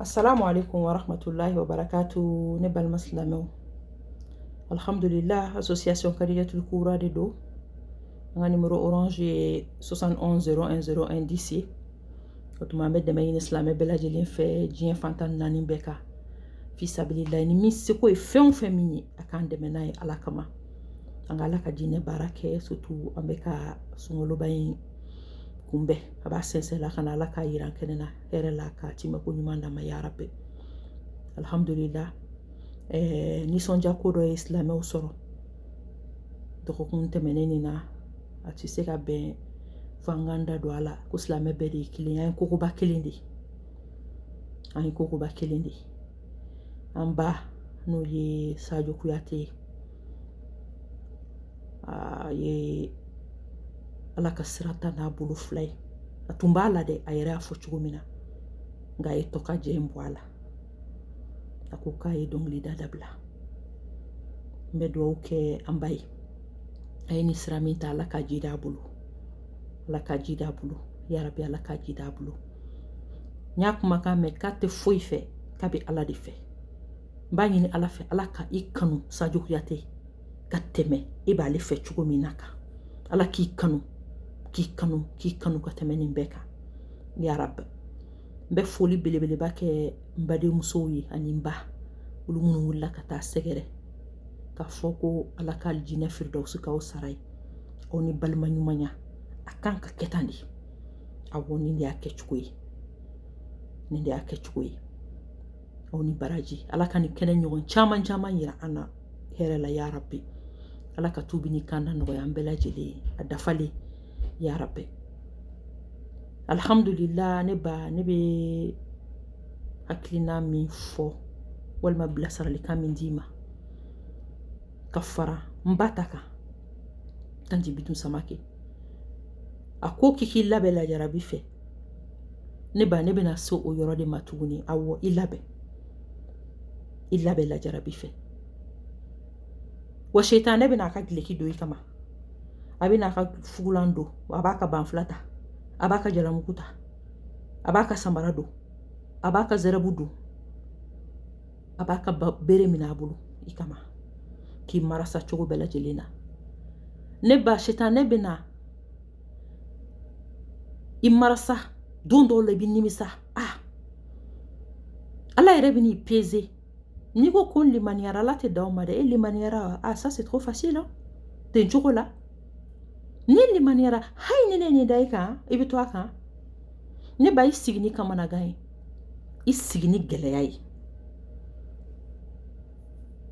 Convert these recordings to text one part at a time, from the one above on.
assalamu alaikum wa rahmatullahi wa barakatu ne balima silamɛw alhamdulillah association kariyatul kura de don an ka nimero orange ye 710101 10 o tuma an bɛ dɛmɛ ɲini silamɛ bɛɛ lajɛlen fɛ diɲɛ fan tan naani bɛɛ kan fisabililayi ni min seko ye fɛn o fɛn min ye a k'an dɛmɛ n'a ye ala kama an ka ala ka diinɛ baara kɛ surtout an bɛ ka sunkaloba in kunbɛn a b'a sɛnsɛn la ka na ala k'a jira an kɛnɛ na hɛrɛ la k'a tiimɛko ɲuman d'an ma ya rabi alhamdulila eh, nisɔndiya ko dɔ ye silamɛw sɔrɔ dɔgɔkun tɛmɛnen nin na a tɛ se ka bɛn fo an k'an da don a la ko silamɛ bɛɛ de ye kelen an ye kogoba kelen de ye an ye kogoba kelen de ye an ba n'o ye sajo kuyate ye a ye ala ka sira ta n'a bolo fila ye a tun b'a la dɛ a yɛrɛ y'a fɔ cogo min na nka a ye tɔ ka jɛ in bɔ a la a ko k'a ye dɔnkilida dabila n bɛ dugawu kɛ an ba ye a ye nin sira min ta ala ka ji d'a bolo ala ka ji d'a bolo yarabi ala ka ji d'a bolo n y'a kumakan mɛn k'a tɛ foyi fɛ k'a bɛ ala de fɛ n b'a ɲini ala fɛ ala ka i kanu sajo kuyate ka tɛmɛ e b'ale fɛ cogo min na kan ala k'i kanu k'i kanu k'i kanu ka tɛmɛ nin bɛɛ kan yarabi n bɛ foli belebeleba kɛ n badenmusow ye ani n ba olu minnu wulila ka taa sɛgɛrɛ k'a fɔ ko ala ka alijinɛ firidawusi k'aw sara ye aw ni balima ɲumanya a kan ka kɛ tan de awɔ nin de y'a kɛcogo ye nin de y'a kɛcogo ye aw ni baraji ala ka nin kɛnɛ ɲɔgɔn caman caman yira an na hɛrɛ la yarabi ala ka tubi ni kanda nɔgɔya an bɛɛ lajɛlen ye a dafalen yarabi alhamdulillah ne ba ne bɛ hakilina min fɔ walima bilasiralikan min d'i ma ka fara n ba ta kan tanti bintu samake a ko k'i k'i labɛn lajarabi fɛ ne ba ne bɛna se o yɔrɔ de ma tuguni awɔ i labɛn i labɛn lajarabi fɛ wa setanɛ bɛna a ka gileki don i kama a bɛna a ka fugulan don a b'a ka banfula ta a b'a ka jalamugu ta a b'a ka samara don a b'a ka zɛrɛbu don a b'a ka bere minɛ a bolo i kama k'i marasa cogo bɛɛ lajɛlen na ne ba setanɛ bɛna i marasa don dɔw la i bɛ nimisa ah ala yɛrɛ bɛ n'i peser n'i ko ko n limaniyara ala tɛ dan o ma dɛ e limaniyara a ah, ça c'est trop facile hein? ten cogo la ne limaniyara hayi ni ne nin da i kan i bɛ to a kan ne ba i sigi ni kamanagan ye i sigi ni gɛlɛya ye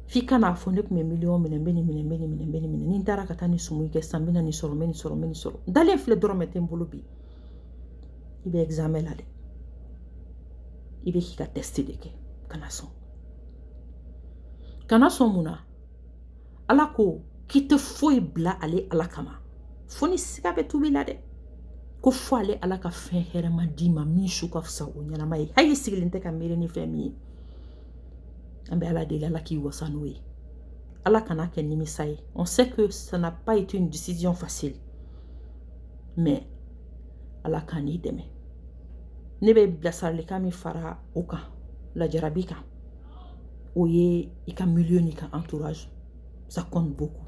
f'i ka n'a fɔ ne kun bɛ miliyɔn minɛ n bɛ nin minɛ n bɛ nin minɛ n bɛ nin minɛ ni n taara ka taa nin sumu kɛ sisan n bɛ na nin sɔrɔ n bɛ nin sɔrɔ n bɛ nin sɔrɔ n dalen filɛ dɔrɔmɛ tɛ n bolo bi i bɛ examen la dɛ i bɛ k'i ka test de kɛ kana sɔn kana sɔn mun na ala ko k'i tɛ foyi bila ale ala kama fo ni siga bɛ tubi la dɛ ko fo ale ala ka fɛn hɛrɛma d'i ma min su ka fisa o ɲɛnama ye hali sigilen tɛ ka miiri ni fɛn min ye An bɛ ala deli ala k'i wasa n'o ye ala kan'a kɛ nimisa ye on sait que ça n'a pas été une décision facile mais ala ka n'i dɛmɛ ne bɛ bilasiralikan min fara o kan lajarabi kan o ye i ka milieu n'i ka entourage ça compte beaucoup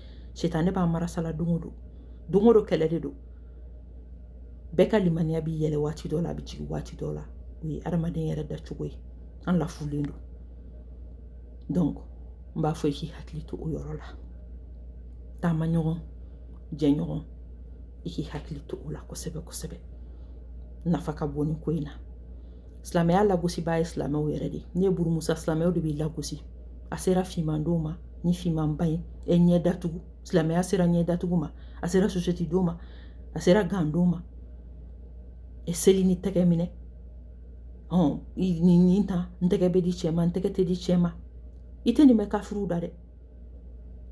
sitanɛ b'a marasa la don o don don o don kɛlɛ de don bɛɛ ka limaniya bɛ yɛlɛ waati dɔ la a bɛ jigin waati dɔ la o ye adamaden yɛrɛ dacogo ye an lafulen don donc n b'a fɔ i k'i hakili to o yɔrɔ la taamaɲɔgɔn jɛɲɔgɔn i k'i hakili to o la kosɛbɛ kosɛbɛ nafa ka bon nin ko in na silamɛya lagosibaa ye silamɛw yɛrɛ de n'i ye burumusa silamɛw de b'i lagosi a sera fiman don ma ni fimanba ye e ɲɛ datugu silamɛya sera ɲɛ datugu ma a sera sosɛti don ma a sera gan don ma e seli ni tɛgɛ minɛ nin nin ta n tɛgɛ bɛ di cɛ ma n tɛgɛ tɛ di cɛ ma i tɛ nin mɛn kafiriw da dɛ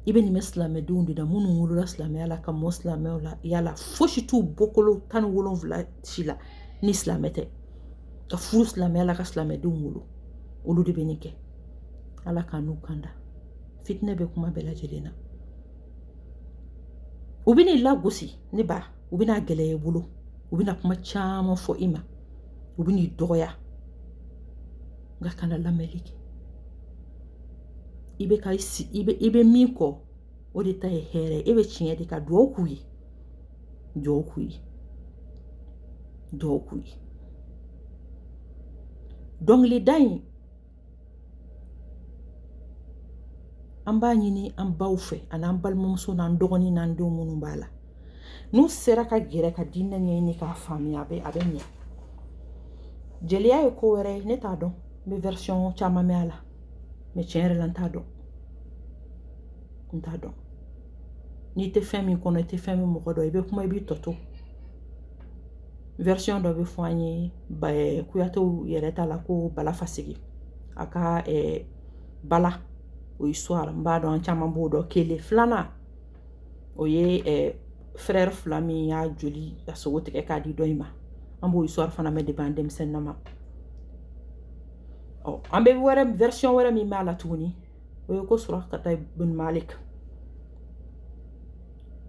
i bɛ nin mɛn silamɛdenw de da minnu wolola silamɛya la ka mɔ silamɛw la yala fosi t'u bɔkolo tan ni wolonwula si la ni silamɛ tɛ ka furu silamɛya la ka silamɛdenw wolo olu de bɛ nin kɛ ala k'an n'u kanda fitinɛ bɛ kuma bɛɛ lajɛlen na u bɛn'i lagosi ne ba u bɛna gɛlɛya i bolo u bɛna kuma caman fɔ i ma u bɛn'i dɔgɔya nka kana lamɛnli kɛ i bɛ ka i bɛ min kɔ o de ta ye hɛrɛ ye e bɛ tiɲɛ de kan dugawu k'u ye dugawu k'u ye dugawu k'u ye dɔnkilida in an b'a ɲini an baw fɛ ani an balimamuso n'an dɔgɔnin n'an denw minnu b'a la n'u sera ka gɛrɛ ka diinɛ ɲɛɲini k'a faamuya a bɛ a bɛ ɲɛ jeliya ye ko wɛrɛ ye ne t'a dɔn n bɛ version caman mɛn a la mais tiɲɛ yɛrɛ la n t'a dɔn n t'a dɔn n'i tɛ fɛn min kɔnɔ i tɛ fɛn min mɔgɔ dɔn i bɛ kuma i b'i tɔ to version dɔ bɛ fɔ an ye kuyatew yɛrɛ ta la ko bala faseke a ka bala o ye histoire n b'a dɔn an caman b'o dɔn kelen filanan o ye frère fila min y'a joli ka sogo tigɛ k'a di dɔ in ma an b'o histoire fana mɛn depuis an denmisɛnnin ma ɔ an bɛ wɛrɛ version wɛrɛ min b'a la tuguni o ye ko surakata bun maliki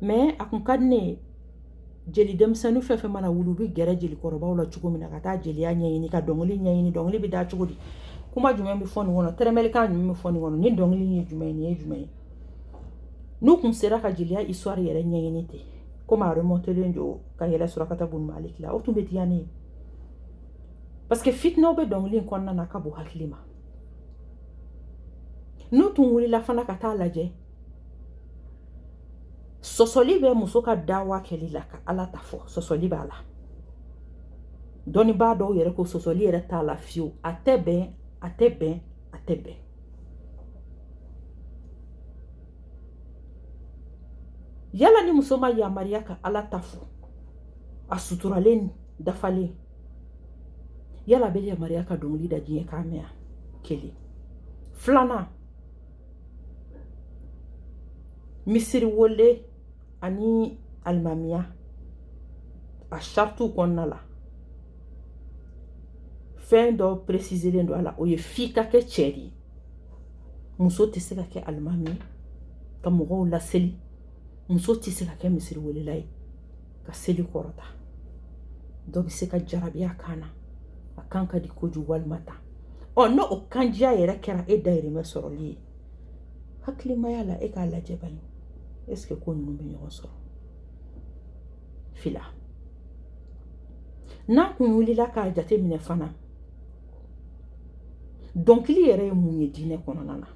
mais a kun ka di ne ye jeli denmisɛnnin fɛn fɛn mana wuli u bɛ gɛrɛ jelikɔrɔbaw la cogo min na ka taa jeliya ɲɛɲini ka dɔnkili ɲɛɲini dɔnkili bɛ da cogo di kuma jumɛn bɛ fɔ nin kɔnɔ tɛrɛmɛlikan jumɛn bɛ fɔ nin kɔnɔ nin dɔnkili ye jumɛn ye nin ye jumɛn ye n'u tun sera ka jeliya histoire yɛrɛ ɲɛɲini ten komi a remontelen don ka yɛlɛ surakata bun maliki la o tun bɛ diya ne ye parce que fitinɛw bɛ dɔnkili in kɔnɔna na ka bon hakili ma n'u tun wulila fana ka taa lajɛ sɔsɔli bɛ muso ka dawa kɛli la ka ala ta fɔ sɔsɔli b'a la dɔnnibaa dɔw yɛrɛ ko sɔsɔli yɛrɛ t'a la fiyewu a tɛ bɛn a tɛ bɛn a tɛ bɛn yala ni muso ma yamaruya ka ala ta fɔ a suturalen dafalen yala a bɛ yamaruya ka dɔnkili da diɲɛ k'a mɛn kelen filanan misiri wele ani alimamiya a saritiw kɔnɔna la fɛn dɔ préciselen don a la o ye f'i ka kɛ cɛ de ye muso tɛ se ka kɛ alimami ye ka mɔgɔw laseli muso tɛ se ka kɛ misiriwelela ye ka seli kɔrɔta dɔ bɛ se ka jarabi a kan na a kan ka di kojugu walima ta ɔ n'o o kanjiya yɛrɛ kɛra e dayirimɛ sɔrɔli ye hakilimaya la e k'a lajɛ bani est-ce que ko ninnu bɛ ɲɔgɔn sɔrɔ fila n'a kun wulila k'a jate minɛ fana dɔnkili yɛrɛ ye mun ye diinɛ kɔnɔna na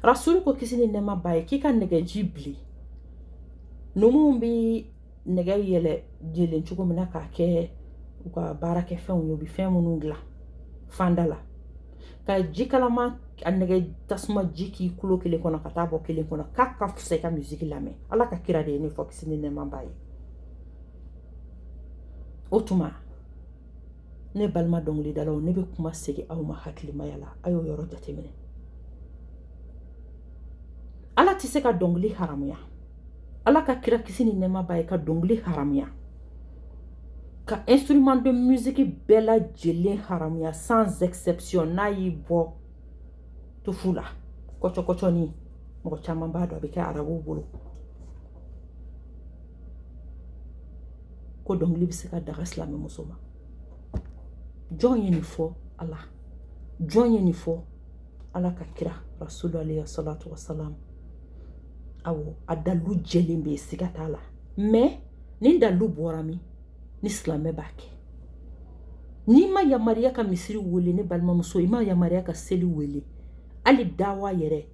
rasulu ko kisi ni nɛɛma b'a ye k'i ka nɛgɛji bili numuw bɛ nɛgɛ yɛlɛ jelen cogo min na k'a kɛ u ka baarakɛfɛnw ye u bɛ fɛn minnu dilan fanda la ka ji kalaman a nɛgɛ tasuma ji k'i kulo kelen kɔnɔ ka taa bɔ kelen kɔnɔ k'a ka fisa i ka misiki lamɛn ala ka kira de ye nin fɔ kisi ni nɛɛma b'a ye o tuma ne balima dɔnkilidalaw ne bɛ kuma segin aw ma hakilimaya la a y'o yɔrɔ jateminɛ ala tɛ se ka dɔnkili haramuya ala ka kira kisi ni nɛɛma b'a ye ka dɔnkili haramuya ka instrument de musique bɛɛ lajɛlen haramuya sans exception n'a y'i bɔ tufu la kɔcɔkɔcɔni mɔgɔ caman b'a dɔn a bɛ kɛ arabuw bolo ko dɔnkili bɛ se ka daga silamɛmuso ma jɔn ye nin fɔ ala jɔn ye nin fɔ ala ka kira rasulu alayhi salatu wasalam awɔ a dalu jɛlen bɛ siga t'a la mais ni dalu bɔra min ni silamɛ b'a kɛ n'i ma yamaruya ka misiri wele ne balimamuso i ma yamaruya ka seli wele hali dawa yɛrɛ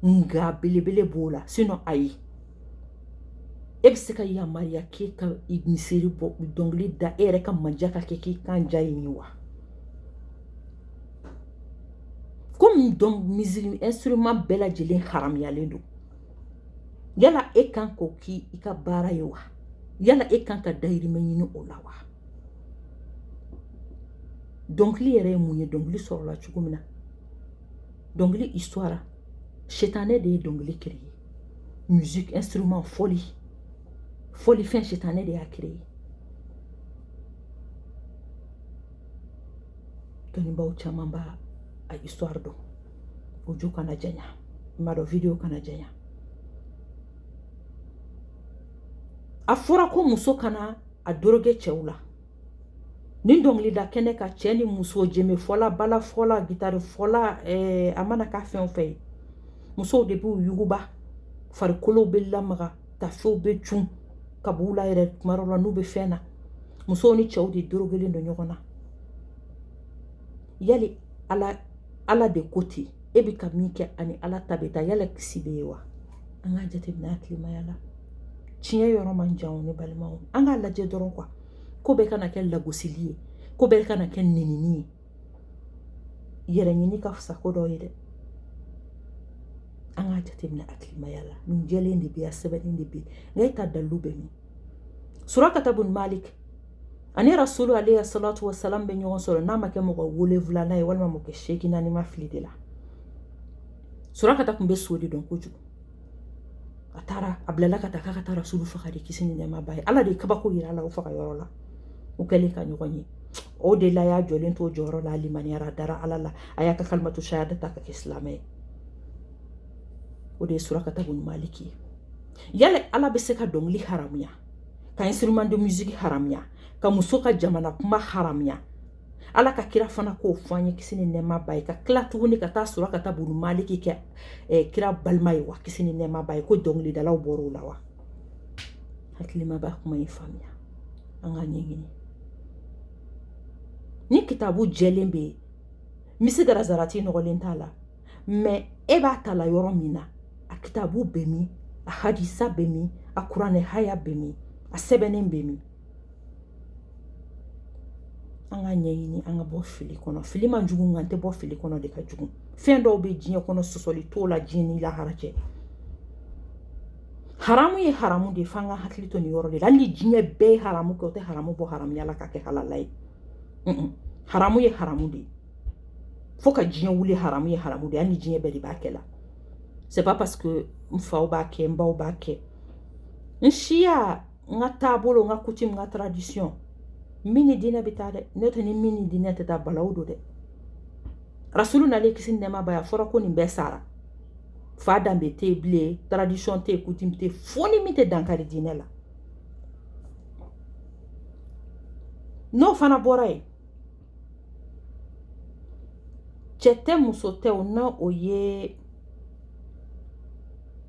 nka belebele b'o la sinon ayi e bɛ se ka yamaruya k'e ka misiri bɔ dɔnkili da e yɛrɛ ka manja ka kɛ k'i kan ja ye wa komi instrument bɛɛ lajɛlen haramuyalen don yala e kan k'o k'i ka baara ye wa yala e kan ka dayirimɛ ɲini o la wa dɔnkili yɛrɛ ye mun ye dɔnkili sɔrɔla cogo min na dɔnkili histoire sitanɛ de ye dɔnkili créer musique instrument fɔli fɔli fɛn sitanɛ de y'a créer dɔnnibaaw caman b'a a histoire dɔn audio kana janya i m'a dɔn video kana janya a fɔra ko muso kana a doroge cɛw la ni dɔnkilida kɛnɛ kan cɛ ni muso jeme fɔla bala fɔla gitari fɔla eh, a mana kɛ fɛn o fɛn ye musow de b'u yuguba farikolow bɛ lamaga tafew bɛ cun ka b'u la yɛrɛ tuma dɔw la n'u bɛ fɛn na musow ni cɛw de dorogelen don ɲɔgɔn na yali ala de ko ten e bɛ ka min kɛ ani ala ta bɛ taa yala kisi bɛ ye wa an k'a jateminɛ hakilimaya la tiɲɛ yɔrɔ man jan ne balimaw an k'a lajɛ dɔrɔn quoi ko bɛɛ kana kɛ lagosili ye ko bɛɛ kana kɛ nenini ye yɛrɛ ɲini ka fisa ko dɔ ye dɛ an k'a jateminɛ hakilimaya la nin jɛlen de bɛ yan sɛbɛnnen de bɛ yen nka e ka dalilu bɛ min surakata bun malik ani rasulu alayhi salatu wa salam bɛ ɲɔgɔn sɔrɔ n'a ma kɛ mɔgɔ wolonwulanan ye walima mɔgɔ seeginnan ni n ma fili de la surakata tun bɛ so de dɔn kojugu a taara a bilala ka taa k'a ka taa rasulu faga de kisi ni nɛɛma b'a ye ala de ye kabako jira a la o faga yɔrɔ la o kɛlen ka ɲɔgɔn ye o de la y'a jɔlen to jɔyɔrɔ la a limaniyara a dara ala la a y'a ka kalimatu shahada ta ka kɛ silamɛ ye o de ye surakata bun maliki ye yala ala bɛ se ka dɔnkili haramuya ka instrument de musique haramuya ka muso ka jamana kuma haramuya ala ka kira fana k'o fɔ an ye kisi ni nɛma b'a ye ka kila tuguni ka taa Surakata bun Maliki kɛ eh, kira balima ye wa kisi ni nɛma b'a ye ko dɔnkilidalaw bɔr'o la wa hakilima b'a kuma in faamuya an ka ɲɛɲini ni kitabu jɛlen bɛ yen misikala zarati nɔgɔlen t'a la mais e b'a ta la yɔrɔ min na a kitabu bɛ min a hadisa bɛ min a kuranɛ haya bɛ min a sɛbɛnnen bɛ min an ka ɲɛɲini an ka bɔ fili kɔnɔ fili man jugu nka an tɛ bɔ fili kɔnɔ de ka jugu fɛn dɔw bɛ diɲɛ kɔnɔ sɔsɔli t'o la diɲɛ ni lahara cɛ haramu ye haramu de ye f'an ka hakili to nin yɔrɔ de la hali ni diɲɛ bɛɛ ye haramu kɛ o tɛ haramu bɔ haramuya la ka kɛ halala ye haramu ye haramu de ye fo ka diɲɛ wuli haramu ye haramu de ye hali ni diɲɛ bɛɛ de b'a kɛ la c'est pas parce que n faw b'a kɛ n baw b'a kɛ n siya n ka taabolo n ka coutume n ka tradition min ni diinɛ bɛ taa dɛ n'o tɛ ni min ni diinɛ tɛ taa balawu don dɛ rasulu nalen kisi ni nɛma b'a ye a fɔra ko nin bɛɛ sara fa danbe tɛ yen bilen tradition tɛ yen coutume tɛ yen fo ni min tɛ dankari diinɛ la n'o fana bɔra yen cɛ tɛ muso tɛ o na o ye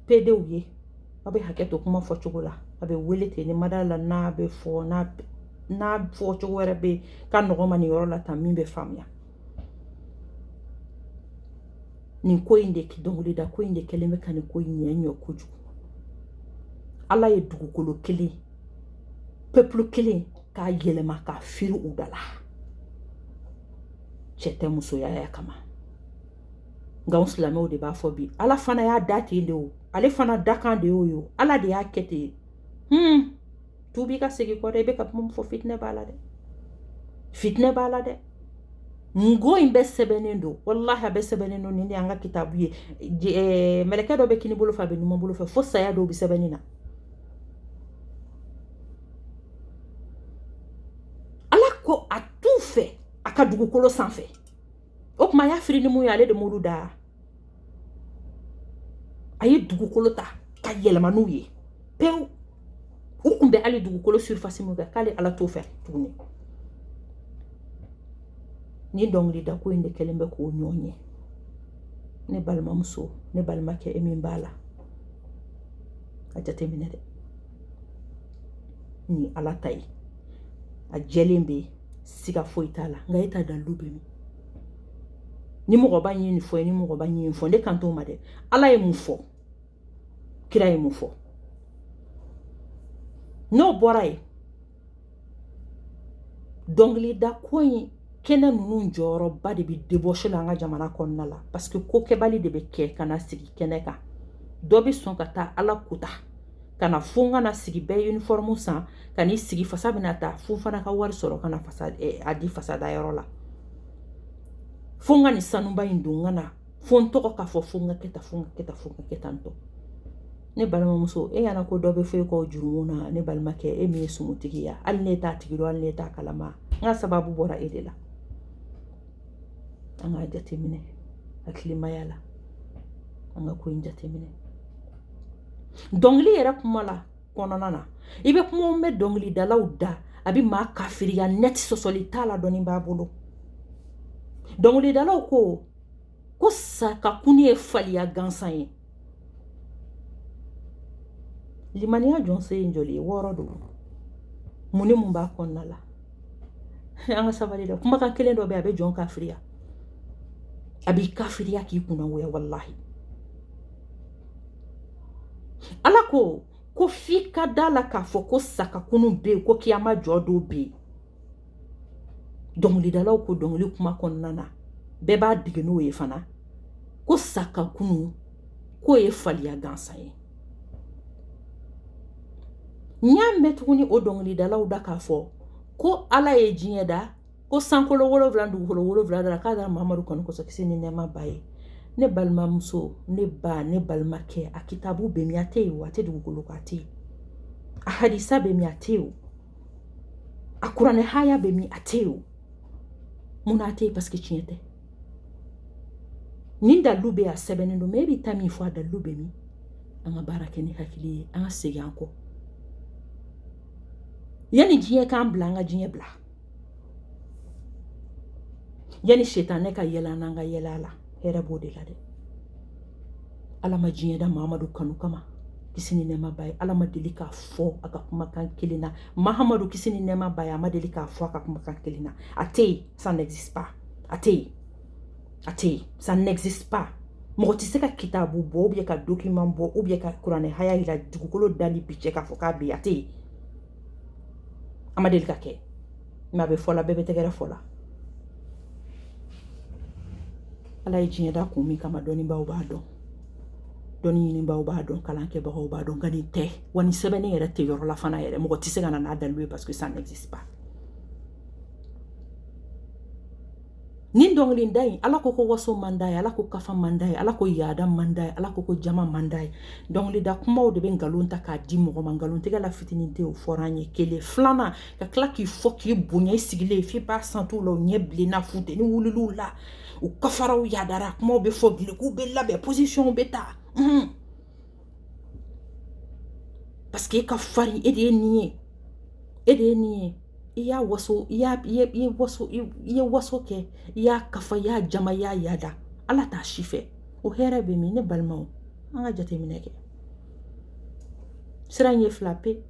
pedew ye aw bɛ hakɛ to kuma fɔ cogo la a bɛ wele ten ni mada la n'a bɛ fɔ n'a n'a fɔ cogo wɛrɛ bɛ ka nɔgɔ ma nin yɔrɔ la tan min bɛ faamuya nin ko in de dɔnkilida ko in de kɛlen bɛ ka nin ko in ɲɛ ɲɔ kojugu ala ye dugukolo kelen peuple kelen k'a yɛlɛma k'a firi u da la cɛ tɛ musoya ya kama nka anw silamɛw de b'a fɔ bi ala fana y'a da ten de o ale fana dakan de y'o ye ala de y'a kɛ ten hmm tubi ka segin kɔ dɛ i bɛ ka kuma min fɔ fitinɛ b'a la dɛ fitinɛ b'a la dɛ nin ko in bɛɛ sɛbɛnnen don walahi a bɛɛ sɛbɛnnen don nin de y'an ka kitabu ye eh, mɛlɛkɛ dɔ bɛ kini bolo fɛ a bɛ numan bolo fɛ fo saya dɔw bɛ sɛbɛnni na ala ko a t'u fɛ a ka dugukolo sanfɛ o tuma a y'a firi ni mun ye ale de m'olu da a ye dugukolo ta ka yɛlɛma n'u ye pewu u kun bɛ hali dugukolo surface min kan k'ale ala t'o fɛ tuguni ni dɔnkilida ko in de kɛlen bɛ k'o ɲɔgɔn ɲɛ ne balimamuso ne balimakɛ e min b'a la a jateminɛ dɛ ni ala ta ye a jɛlen bɛ siga foyi t'a la nka e ta dalilu bɛ min ni mɔgɔba ye nin fɔ ye ni mɔgɔba ye nin fɔ ne kan t'o ma dɛ ala ye mun fɔ kira ye mun fɔ n'o bɔra yen dɔnkilida ko in kɛnɛ ninnu jɔyɔrɔba de bɛ débauche la an ka jamana kɔnɔna la parce que ko kɛbali de bɛ kɛ ka na sigi kɛnɛ kan dɔ bɛ sɔn ka taa ala kuta ka na fo ka na sigi bɛɛ uniforme san ka n'i sigi fasa bɛna taa fo n fana ka wari sɔrɔ ka na fasa eh, a di fasada yɔrɔ la fo n ka nin sanuba in don ka na fo n tɔgɔ k'a fɔ fo n ka kɛ tan fo n ka kɛ tan fo n ka kɛ tan tɔ ne balimamuso e y'a ko dɔ bɛ foyi kɔ jurumu na ne balimakɛ e min ye sumutigi ye hali ne t'a tigi dɔn hali ne t'a kalama nka sababu bɔra e de la an k'a jateminɛ hakilimaya la an ka ko in jateminɛ dɔnkili yɛrɛ kuma la kɔnɔna na i bɛ kuma mɛn dɔnkilidalaw da a bɛ maa kafiriya net sɔsɔli t'a la dɔɔni b'a bolo dɔnkilidalaw ko ko sa ka kunu ye faliya gansan ye limaniya jɔsen ye joli ye wɔɔrɔ don mun ni mun b'a kɔnɔna la an ka sabali dɛ kumakan kelen dɔ bɛ a bɛ jɔn kafiriya a b'i kafiriya k'i kunnagoya walahi ala ko ko f'i ka da a la k'a fɔ ko sa ka kunu bɛ yen ko kiyama jɔ don bɛ yen dɔnkilidalaw ko dɔnkili kuma kɔnɔna na bɛɛ b'a dege n'o ye fana ko sa ka kunu k'o ye faliya gansan ye n y'a mɛn tuguni o dɔnkilidalaw da k'a fɔ ko ala ye diɲɛ da ko sankolo wolonwula dugukolo wolonwula da k'a da mahamadu kanu kosɔn kisi ni nɛɛma b'a ye ne balimamuso ne ba ne balimakɛ a kitabu bɛ min a tɛ yen wa a tɛ dugukolo ko a tɛ yen a hadisa bɛ min a tɛ yen a kuranɛ haya bɛ min a tɛ o mun na a tɛ yen parce que tiɲɛ tɛ nin dalilu bɛɛ a sɛbɛnnen don mais e bɛ taa min fɔ a dalilu bɛ min an ka baara kɛ ni hakili ye an ka segin an kɔ yanni diɲɛ k'an bila an ka diɲɛ bila yanni setanɛ ka yɛlɛ an na an ka yɛlɛ a la hɛrɛ b'o de la dɛ ala ma diɲɛ da mahamadu kanu kama kisi ni nɛɛma b'a ye ala ma deli k'a fɔ a ka kumakan kelen na mahamadu kisi ni nɛɛma b'a ye a ma deli k'a fɔ a ka kumakan kelen na a tɛ yen ça n'existe pas a tɛ yen a tɛ yen ça n'existe pas mɔgɔ tɛ se ka kitabu bɔ ou bien ka document bɔ ou bien ka kuranɛ haya yira dugukolo dali ni bi cɛ k'a fɔ k'a bɛ yen a tɛ yen a ma deli ka kɛ a bɛ fɔ la bɛɛ bɛ tɛgɛrɛ fɔ la ala ye diɲɛ da kun min kama dɔnnibaaw b'a dɔn dɔnni ɲinibaaw b'a dɔn kalan kɛbagaw b'a dɔn nka nin tɛ wa nin sɛbɛnnen yɛrɛ tɛ yɔrɔ la fana yɛrɛ mɔgɔ tɛ se ka na n'a dalilu ye parce que ça n'existe pas nin dɔnkili da in ala ko ko waso man d'a ye ala ko kafa man d'a ye ala ko yaada man d'a ye ala ko ko jama man d'a ye dɔnkilida kumaw de bɛ nkalon ta k'a di mɔgɔ ma nkalontigɛla fitinin tɛ o fɔra an ye kelen filanan ka tila k'i fo k'i bonya i sigilen ye f'i b'a santi u la u ɲɛ bilenna funteni wulila u la u kafara u yadara kumaw bɛ fɔ kɛlɛkow bɛ labɛn posisiyɔnw bɛ ta unhun paseke e ka farin e de ye nin ye e de ye nin ye i y'a waso i y'a i ye waso i ye waso kɛ i y'a kafa i y'a jama i y'a yada ala t'a si fɛ o hɛrɛ bɛ min ne balimaw an ka jateminɛ kɛ sira ɲɛ fila pe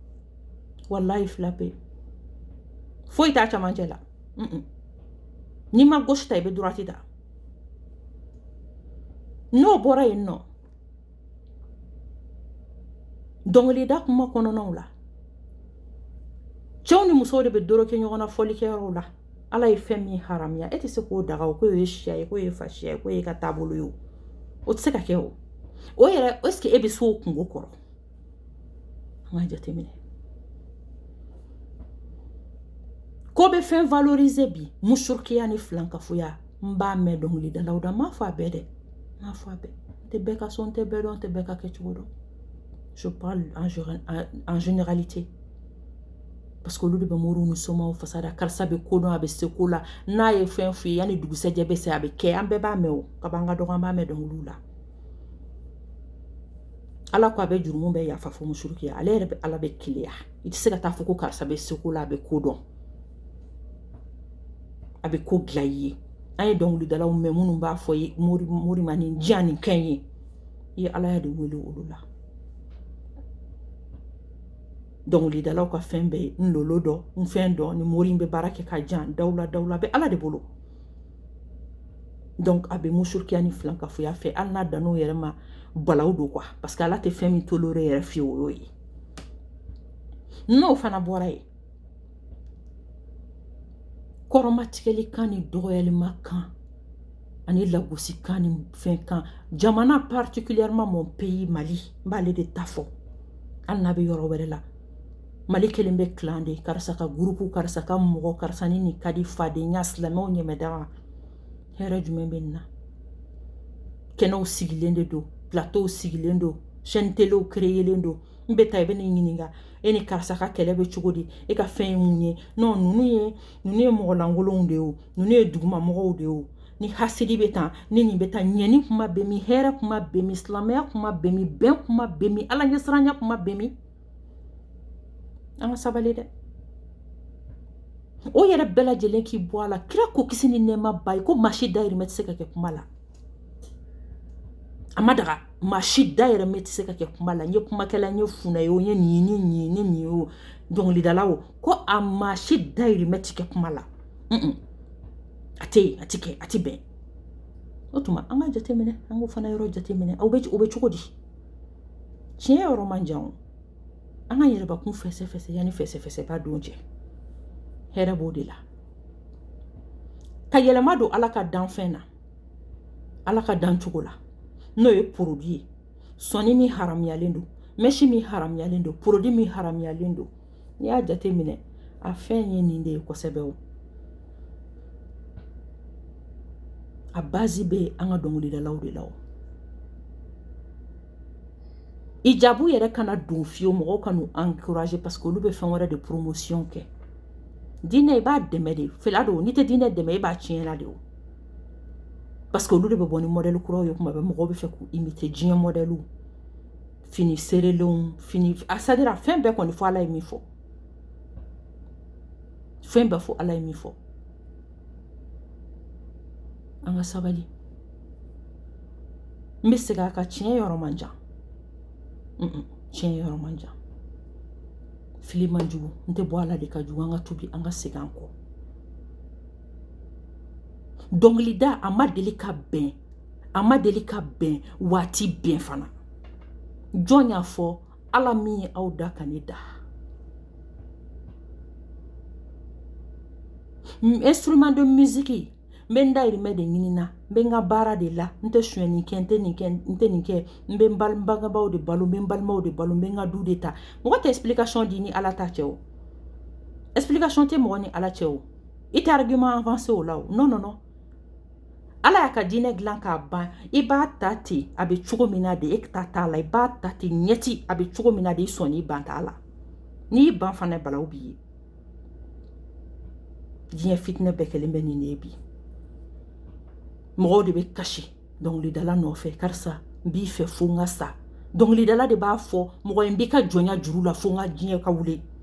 walayi fila pe foyi t'a camancɛ la n'i ma gauche ta i bɛ droite ta n'o bɔra yen nɔ dɔnkilida kuma kɔnɔnaw la cɛw ni musow de bɛ doroko ɲɔgɔn na fɔli kɛyɔrɔw la ala ye fɛn min haramuya e tɛ se k'o daga o k'o ye siya ye k'o ye fasiya ye k'o y'e ka taabolo ye o o tɛ se ka kɛ o o yɛrɛ ɛseke e bɛ se o kunko kɔrɔ An ka jateminɛ k'o bɛ fɛn valorize bi musurukiya ni filankafoya n b'a mɛn dɔnkilidalaw da n m'a fɔ a bɛɛ dɛ n m'a fɔ a bɛɛ n tɛ bɛɛ ka so n tɛ bɛɛ dɔn n tɛ bɛɛ ka kɛcogo dɔn je parle en généralité parce que olu de bɛ moriw ni somaw fasada karisa bɛ ko dɔn a bɛ se ko la n'a ye fɛn f'i ye yanni dugusɛjɛ bɛ se a bɛ kɛ an bɛɛ b'a mɛn o ka ban ka dɔgɔ an b'a mɛn dɔnkili la ala ko a bɛ jurumu bɛɛ yafa fo musurukiya ale yɛrɛ bɛ ala bɛ keleya i tɛ se ka taa fɔ ko karisa bɛ se ko la a bɛ ko dɔn a bɛ ko dilan i ye an ye dɔnkilidalaw mɛn minnu b'a fɔ ye mori mori ma ni diya ni kɛ ye i ye ala de wele olu la dɔnkilidalaw ka fɛn bɛɛ ye n lolo don n fɛn don ni mori bɛ baara kɛ ka jan dawula dawula bɛ ala de bolo donc a bɛ musurukiya ni filankafoya fɛ hali n'a dan'o yɛrɛ ma balawu don quoi parce que ala tɛ fɛn min tolere yɛrɛ fewu o y'o ye n'o fana bɔra yen kɔrɔmatigɛli kan ni dɔgɔyalima kan ani lagosi kan ni fɛn kan jamana particulièrement mon pays mali n b'ale de ta fɔ hali n'a bɛ yɔrɔ wɛrɛ la mali kelen bɛ tila de karisa ka groupe karisa ka mɔgɔ karisa ni ni kadi fadenya silamɛw ɲɛmɛda wa hɛrɛ jumɛn bɛ nin na kɛnɛw sigilen de don plateau sigilen don chaîne téléw créelen don n bɛ taa i bɛ ne ɲininka e ni karisa ka kɛlɛ bɛ cogo di e ka fɛn ye mun ye non ninnu ye ninnu ye mɔgɔlankolonw de ye o ninnu ye duguma mɔgɔw de ye o ni hasidi bɛ tan ni nin bɛ tan ɲɛni kuma bɛ min hɛrɛ kuma bɛ min silamɛya kuma bɛ min bɛn kuma bɛ min ala ɲɛsiranya kuma bɛ min an ka sabali dɛ o yɛrɛ bɛɛ lajɛlen k'i bɔ a la kira ko kisi ni nɛɛma b'a ye ko maa si dayirimɛ tɛ se ka kɛ kuma la a ma daga maa si dayirimɛ tɛ se ka kɛ kuma la n ye kumakɛla n ye funɛ ye o n ye nin ye n ye nin ye n ye nin ye o dɔnkilidala o ko a maa si dayirimɛ tɛ kɛ kuma la a tɛ yen a tɛ kɛ a tɛ bɛn o tuma an ka jateminɛ an k'o fana yɔrɔ jateminɛ o bɛ cogo di tiɲɛ yɔrɔ man jan o an ka yɛrɛbakun fɛsɛfɛsɛ yanni fɛsɛfɛsɛba don cɛ hɛrɛ b'o de la ka yɛlɛma don ala ka danfɛn na ala ka dancogo la n'o ye produit ye sɔni min haramuyalen don mɛsi min haramuyalen don produit min haramuyalen don N'i y'a jateminɛ a fɛn ye nin de ye kosɛbɛ o a base bɛ an ka dɔnkilidalaw de la o hijabu yɛrɛ kana don fiyewu mɔgɔw kan'u encourager parce que olu bɛ fɛn wɛrɛ de promotion kɛ diinɛ i b'a dɛmɛ de fila don n'i tɛ diinɛ dɛmɛ i b'a tiɲɛna de o parce que olu de bɛ bɔ ni modèle kuraw ye kuma bɛɛ mɔgɔw b'a fɛ k'u imiter diɲɛ modèlew fini serelenw fini c'est-à-dire fɛn bɛɛ kɔni fo ala ye min fɔ fɛn bɛɛ fo ala ye min fɔ an ka sabali n bɛ segin a kan tiɲɛ yɔrɔ man jan tiɲɛ yɔrɔ man jan fili man jugu n tɛ bɔ a la de ka jugu an ka tubi an ka segin an kɔ dɔnkilida a ma deli ka bɛn a ma deli ka bɛn wa a tɛ bɛn fana jɔn y'a fɔ ala min ye aw da ka ne da instrument de musique n bɛ n dayirimɛ de ɲini na n bɛ n ka baara de la n tɛ sonyɛni kɛ n tɛ nin kɛ n tɛ nin kɛ n bɛ n bangebaaw de balo n bɛ n balimaw de balo n bɛ n ka du de ta mɔgɔ tɛ explication di ni ala ta cɛ o explication tɛ mɔgɔ ni ala cɛ o i tɛ argument avancer o la o non non non ala y'a ka diinɛ dilan k'a ban i b'a ta ten a bɛ cogo min na de e ta t'a la i b'a ta ten ɲɛti a bɛ cogo min na de i sɔn n'i ban t'a la n'i ban fana balawu b'i ye diɲɛ fitinɛ bɛɛ kɛlen bɛ nin de ye bi mɔgɔw de bɛ kasi dɔnkilidala nɔfɛ karisa n b'i fɛ fo n ka sa dɔnkilidala de b'a fɔ mɔgɔ ye n b'i ka jɔnya juru la fo n ka diɲɛ ka wuli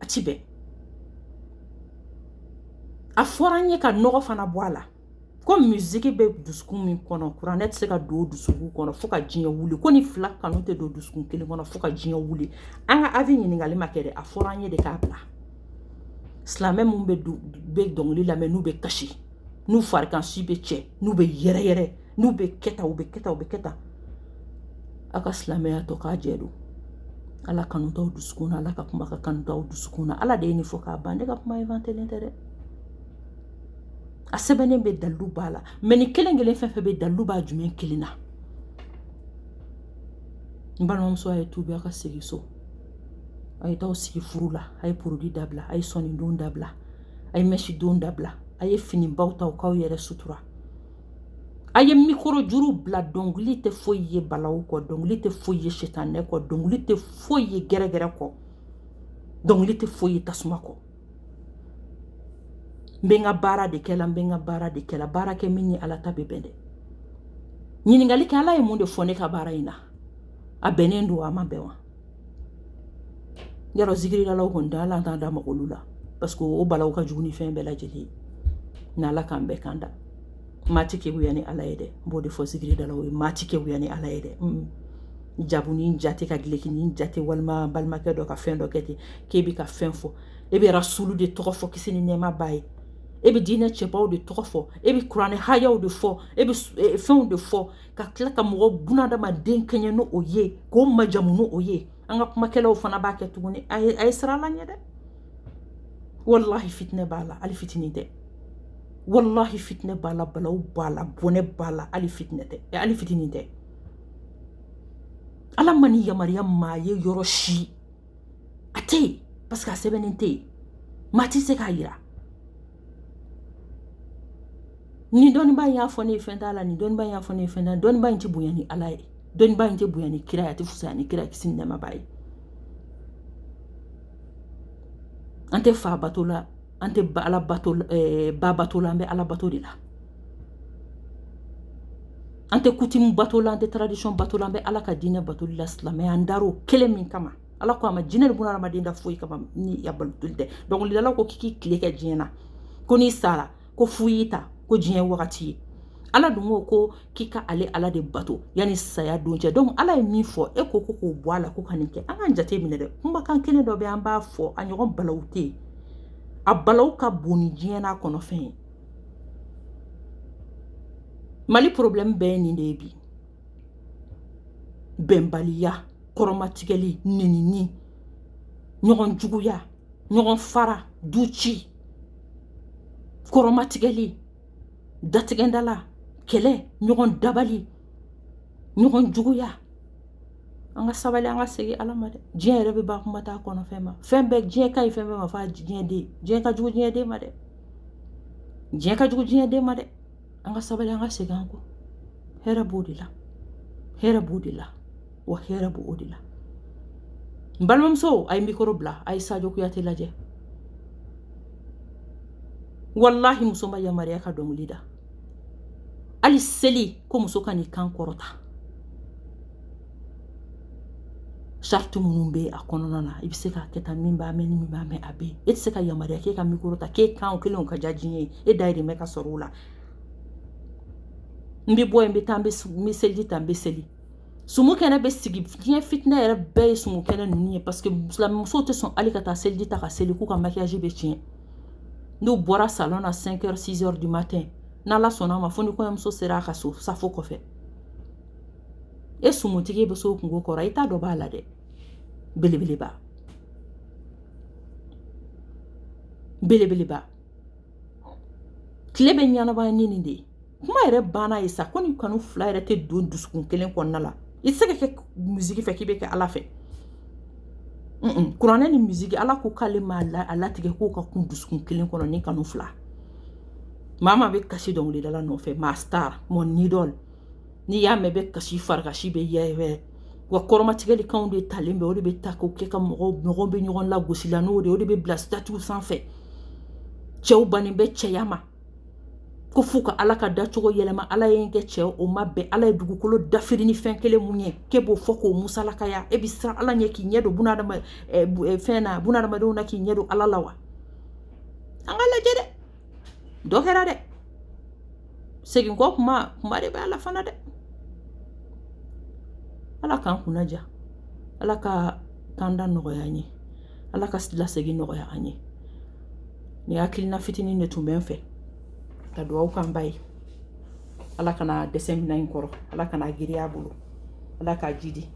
a tɛ bɛn a fɔra an ye ka nɔgɔ fana bɔ a la ko musiki bɛ dusukun min kɔnɔ kuranɛ tɛ se ka don o dusukun kɔnɔ fo ka diɲɛ wuli ko nin fila kanu tɛ don dusukun kelen kɔnɔ fo ka diɲɛ wuli an ka avis ɲininkali ma kɛ dɛ a fɔra an ye de k'a bila silamɛ minnu bɛ dɔnkili lamɛn n'u bɛ kasi n'u farikansi bɛ cɛ n'u bɛ yɛrɛ yɛrɛ n'u bɛ kɛ tan u bɛ kɛ tan u bɛ kɛ tan aw ka silamɛya tɔgɔ jɛ don ala kanu t'aw dusukun na ala ka kuma ka kanu t'aw dusukun na ala de ye nin fɔ k'a ban ne ka kuma inventelen tɛ dɛ a sɛbɛnnen bɛ dalilu b'a la mais nin kelen kelen fɛn fɛn bɛ dalilu b'a jumɛn kelen na n balimamuso a ye tubi a ka segin so a ye taa sigi furu la a ye produit dabila a ye sɔnin don dabila a ye mɛsi don dabila a ye finibaw ta k'aw yɛrɛ sutura a ye mikɔrɔ juru bila dɔnkili tɛ foyi ye balawu kɔ dɔnkili tɛ foyi ye sitanɛ kɔ dɔnkili tɛ foyi ye gɛrɛgɛrɛ kɔ dɔnkili tɛ foyi ye tasuma kɔ n bɛ n ka baara de kɛ la n bɛ n ka baara de kɛ la baara kɛ min ni ala ta bɛ bɛn dɛ ɲininkali kɛ ala ye mun de fɔ ne ka baara in na a bɛnnen don a ma bɛn wa yɔrɔ zikiridalaw kɔni da ala t'a da mako olu la parce que o balawu ka jugu ni fɛn bɛɛ lajɛlen ye n ala k'an bɛɛ kanda maa tɛ keguya ni ala ye dɛ n b'o de fɔ zikiridalaw ye maa tɛ keguya ni ala ye dɛ jabu ni jate ka gileki ni jate walima balimakɛ dɔ ka fɛn dɔ kɛ ten k'e bɛ ka fɛn fɔ e bɛ rasulu de tɔgɔ fɔ kisi ni nɛɛma b'a ye e bɛ diinɛ cɛbaw de tɔgɔ fɔ e bɛ kuranɛ hayaw de fɔ e bɛ fɛnw de fɔ ka tila ka mɔgɔ bunadamaden kɛɲɛ ni o ye k'o majamu ni o ye an ka kumakɛlaw fana b'a kɛ tuguni a ye siran ala ɲɛ dɛ walahi fitinɛ b'a la hali fitinin tɛ walahi fitinɛ b'a la balawu b'a la bɔnɛ b'a la hali fitinɛ tɛ hali fitinin tɛ ala ma nin yamaruya maa ye yɔrɔ si a tɛ yen parce que a sɛbɛnnen tɛ yen maa tɛ se k'a yira ni dɔnniba in y'a fɔ ne ye fɛn t'a la ni dɔnniba in y'a fɔ ne ye fɛn t'a la dɔnniba in tɛ bonya ni ala ye dɔnniba in tɛ bonya ni kira ye a tɛ fisaya ni kira kisi ni nɛɛma b'a ye an tɛ fa bato la an tɛ ala bato ba bato la an bɛ ala bato de la an tɛ coutume bato la an tɛ tradition bato la an bɛ ala ka diinɛ bato la silamɛya an dar'o kelen min kama ala ko a ma jinɛ ni bunadamaden da foyi kama ni a batoli tɛ dɔnkilidala ko k'i tile kɛ diɲɛ na ko n'i sara ko fu y'i ta ko diɲɛ wagati ye ala dun ko ko k'i ka ale ala de bato yanni saya don cɛ dɔnku ala ye min fɔ e ko ko k'o bɔ a la ko ka nin kɛ an ka jate minɛ dɛ kumakan kelen dɔ bɛ an b'a fɔ a ɲɔgɔn balawu tɛ yen a balawu ka bon ni diɲɛ n'a kɔnɔfɛn ye mali porobilɛmu bɛɛ ye nin de ye bi bɛnbaliya kɔrɔmatigɛli nenini ɲɔgɔn juguya ɲɔgɔn fara du ci kɔrɔmatigɛli datigɛndala kɛlɛ ɲɔgɔn dabali ɲɔgɔn juguya an ka sabali an ka segin ala ma dɛ diɲɛ yɛrɛ bɛ ban kuma t'a kɔnɔfɛn ma fɛn bɛɛ diɲɛ ka ɲi fɛn bɛɛ ma fo a diɲɛ den diɲɛ ka jugu diɲɛ den ma dɛ diɲɛ ka jugu diɲɛ den ma dɛ an ka sabali an ka segin an kɔ hɛrɛ b'o de la hɛrɛ b'o de la wa hɛrɛ b'o de la n balimamuso a ye mikoro bila a ye sajo kuyate lajɛ walahi muso ma yamaruya ka dɔnkili da hali seli ko muso kan'i kan kɔrɔta sariti minnu bɛ a kɔnɔna na i bɛ se k'a kɛ tan min b'a mɛn ni min b'a mɛn a bɛ yen e tɛ se ka yamaruya k'e ka mikoro ta k'e kan kelen ka diya diɲɛ ye e dayirimɛ ka sɔrɔ o la n bɛ bɔ yen n bɛ taa n bɛ seliji ta n bɛ seli sumu kɛnɛ bɛ sigi diɲɛ fitinɛ yɛrɛ bɛɛ ye sumu kɛnɛ ninnu ye paseke musow tɛ sɔn hali ka taa seliji ta ka seli k'u ka makiyaji bɛ tiɲɛ n'u bɔra salɔn na 5 heures 6 heures du matin n'ala sɔnna a ma fo ni kɔɲɔmuso sera a ka so safo kɔfɛ e sumutigi bɛ s'o kunko kɔrɔ i ta dɔ b'a la dɛ belebeleba belebeleba tile bɛ ɲɛnabɔ ni nin de ye kuma yɛrɛ banna ye sa ko ni kanu fila yɛrɛ tɛ don dusukun kelen kɔnɔna la i tɛ se ka kɛ musiki fɛ k'i bɛ kɛ ala fɛ kuranɛ ni musiki ala ko k'ale ma a latigɛ k'o ka kun dusukun kelen kɔnɔ ni kanu fila maa maa bɛ kasi dɔnkilidala nɔfɛ ma star mon idole n'i y'a mɛn bɛ kasi farikasi bɛ yɛrɛ wa kɔrɔmatigɛlikanw de talen bɛ o de bɛ ta k'o kɛ ka mɔgɔw mɔgɔw bɛ ɲɔgɔn lagosi la n'o de ye o de bɛ bila sitatiw sanfɛ cɛw bannen bɛ cɛya ma ko f'u ka ala ka dacogo yɛlɛma ala ye n kɛ cɛ o ma bɛn ala ye dugukolo dafiri ni fɛn kelen mun ye k'e b'o fɔ k'o musalakaya e bɛ siran ala ɲɛ k'i ɲɛ don fɛn na bunadamadenw na k'i ɲɛ don ala la wa an ka lajɛ dɛ dɔ kɛra dɛ segin kɔ kuma kuma de bɛ a la fana dɛ ala k'an kunna diya ala ka kanda nɔgɔya ye ala ka lasegin nɔgɔya an ye nin hakilina fitinin de tun bɛ n fɛ ka dugawu k'an ba ye ala kana dɛsɛ minan in kɔrɔ ala kan'a giriya a bolo ala k'a jidi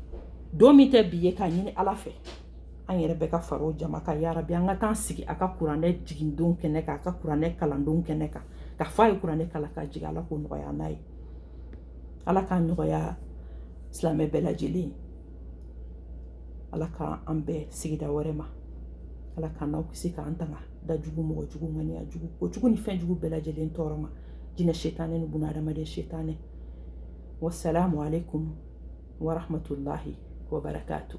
don min tɛ bi ye k'a ɲini ala fɛ an yɛrɛ bɛɛ ka fara o jama kan yarabi an ka taa sigi a ka kuranɛ jigindon kɛnɛ kan a ka kuranɛ kalandon kɛnɛ kan ka fɔ a ye kuranɛ kalan k'a jigin ala k'o nɔgɔya n'a ye ala k'a nɔgɔya silamɛ bɛɛ lajɛlen ye ala ka an bɛɛ sigi da wɛrɛ ma ala k'an n'aw kisi k'an tanga da jugu mɔgɔ jugu ŋaniya jugu ko jugu ni fɛn jugu bɛɛ lajɛlen tɔɔrɔ ma jinɛ setanɛ ni buna adamaden setanɛ wasalamu alaikum warahmatullahi wabarakatuh